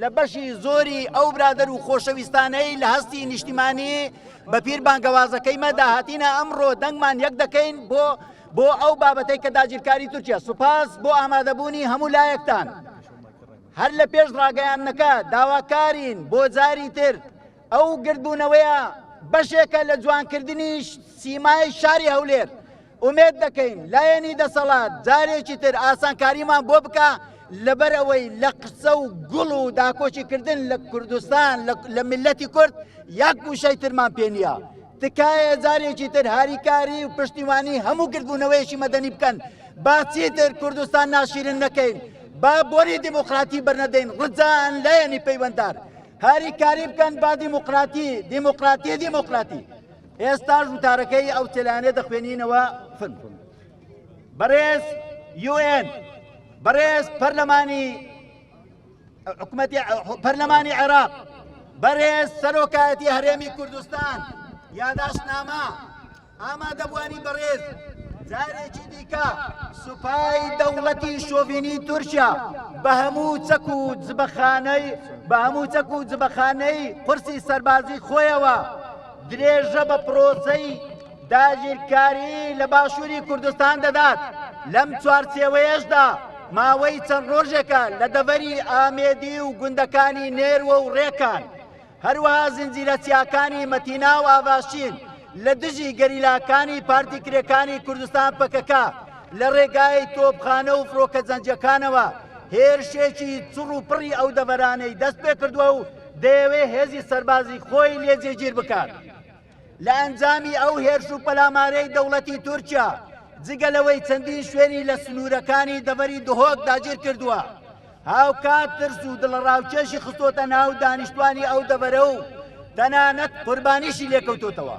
لە بەشی زۆری ئەو برادەر و خۆشەویستانەی لە هەستی نیشتیمانی بەپیر بانگەوازەکەی مەدا هاتینە ئەمڕۆ دەنگمان یەک دەکەین بۆ بۆ ئەو بابەتەی کە داگیرکاری تورکیا سوپاس بۆ ئامادەبوونی هەموو لایەکتان هەر لە پێش ڕاگەیاندنەکە داواکارین بۆ جاری تر ئەو گردبوونەوەیە بەشێکە لە جوانکردنی سیمای شاری هەولێر ئومێد دەکەین لایەنی دەسەڵات جارێکی تر ئاسانکاریمان بۆ بکە لەبەر ئەوەی لە قسە و گوڵ و داکۆکی کردن لە کوردستان لە ملەتی کورد یاک گوشەی ترمان پێ نییە. تکایە جارێکی تر هاریکاری و پشتیوانی هەموو گردبوونەوەیەکی مەدەنی بکەن با چیتر کوردستان ناشیرن نەکەین با بۆری دیموکراتی بەرنەدەین ڕجان لایەنی پەیوەندار هاریکاری بکەن با دیموکراتی دیموکراتی دیموکراتی ئێستاش وتارەکەی ئەو تێلانێ دەخوێنینەوە فن بەڕێز یوئێن بەڕێز پەرلەمانی حکومەتی پەرلەمانی عێراق بەرێز سەرۆکایەتی هەرێمی کوردستان یاداشتنامە ئامادەبوانی بەڕێز جارێکی دیکە سوپای دەوڵەتی شۆڤینی تورکیا بە هەموو چەک و جبەخانەی بە هەموو چەک و جبەخانەی قرسی سەربازی خۆیەوە درێژە بە پرۆسەی داگیرکاری لە باشووری کوردستان دەدات لەم چوارچێوەیەشدا ماوەی چەند ڕۆژێکە لە دەڤەری ئامێدی و گوندەکانی نێروە و ڕێکان هەروەها زنجیرە چیاکانی مەتینا و ئاڤاشین لە دژی گەریلاکانی پارتی کرێکانی کوردستان پەکەکە لە ڕێگای تۆپخانە و فڕۆکە جەنجەکانەوە هێرشێکی چڕ و پڕی ئەو دەڤەرانەی دەست پێ کردووە و دەیەوێت هێزی سەربازی خۆی لێ جێگیر بکات. لە ئەنجامی ئەو هێرش و پەلامارەی دەوڵەتی تورکیا، جگە لەوەی چەندین شوێنی لە سنوورەکانی دەڤەری دهۆک داگیر کردووە، هاوکات ترس و دڵەڕاوکێشی خستۆتە ناو دانیشتوانی ئەو دەڤەرە و تەنانەت قوربانیشی لێکەوتۆتەوە.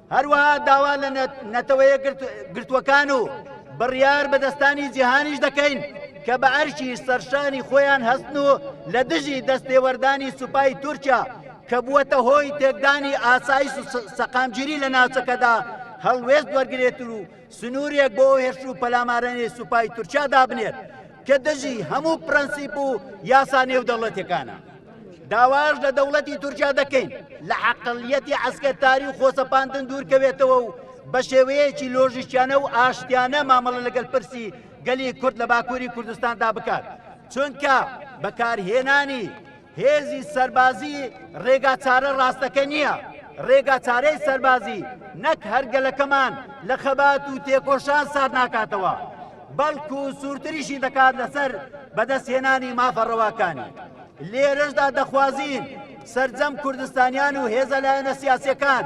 هەروەها داوا لە نەتەوە یەکگرتووەکان و بڕیاربەدەستانی جیهانیش دەکەین کە بە ئەرکی سەرشانی خۆیان هەستن و لە دژی دەستێوەردانی سوپای تورکیا کە بووەتە هۆی تێکدانی ئاسایش و سەقامگیری لە ناوچەکەدا هەڵوێست وەرگێت و سنوورێک بۆ هێرش و پەلامارەنێ سوپای تورکیا دابنێت کە دژی هەموو پرەنسیپ و یاسا نێودەوڵەتەکانە. داواش لە دەوڵەتی تورکیا دەکەین لە عقلیەتی عسکەتاری و خۆسەپاندن دوورکەوێتەوە و بە شێوەیەکی لۆژیکیانە و ئاشتیانە مامەڵە لەگەل پرسی گەلی کورد لە باکووری کوردستاندا بکات چونکە بەکارهێنانی هێزی سەربازی ڕێگا چارە ڕاستەکە نییە ڕێگا چارەی سەربازی نەک هەرگەلەکەمان لە خەبات و تێکۆشان سار ناکاتەوە بەڵکو سوورتریشی دەکات لەسەر بەدەستهێنانی مافە ڕەواکانی لێرەشدا دەخوازین سرجەم کوردستانیان و هێزە لایەنە سیاسەکان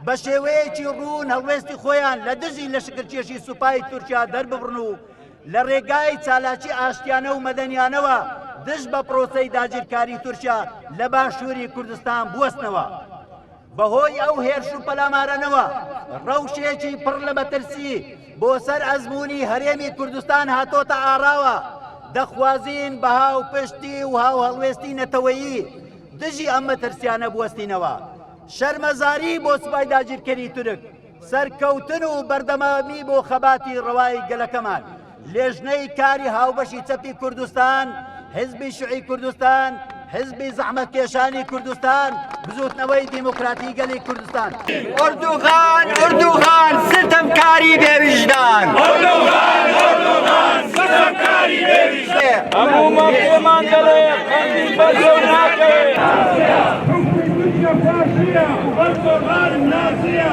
بە شێوەیەکی ڕوون هەڵوێستی خۆیان لە دژی لە شکرکێشی سوپای تورکیا دەرببڕن و لە ڕێگای چالاکی ئاشتیانە و مەدەنیانەوە دژ بە پرۆسەی داگیرکاری تورکیا لە باشووری کوردستان بوەستنەوە. بەهۆی ئەو هێرش و پەلامارەنەوە ڕەوشێکی پڕ لە مەترسی بۆ سەر ئەزموونی هەرێمی کوردستان هاتۆتە ئاراوە، دەخوازین بە هاوپشتی و هاوهەڵوێستی نەتەوەیی دژی ئەم مەترسیانە بوەستینەوە. شەرمەزاری بۆ سوپای داگیرکەری تورک. سەرکەوتن و بەردەمامی بۆ خەباتی ڕەوای گەلەکەمان لێژنەی کاری هاوبەشی چەپی کوردستان حزبی شعی کوردستان حزبی زەحمەتکێشانی کوردستان بزوتنەوەی دیموکراتی گەلی کوردستان ئۆردوغان ئۆردوغان ستەمکاری بێویژدان ئۆردوغان ئۆردوغان ستەمکاری بێویژدان هەموو مەڵێمان دەڵێ قەندی بەزەو ناکەوێت ئۆردوغان نازیە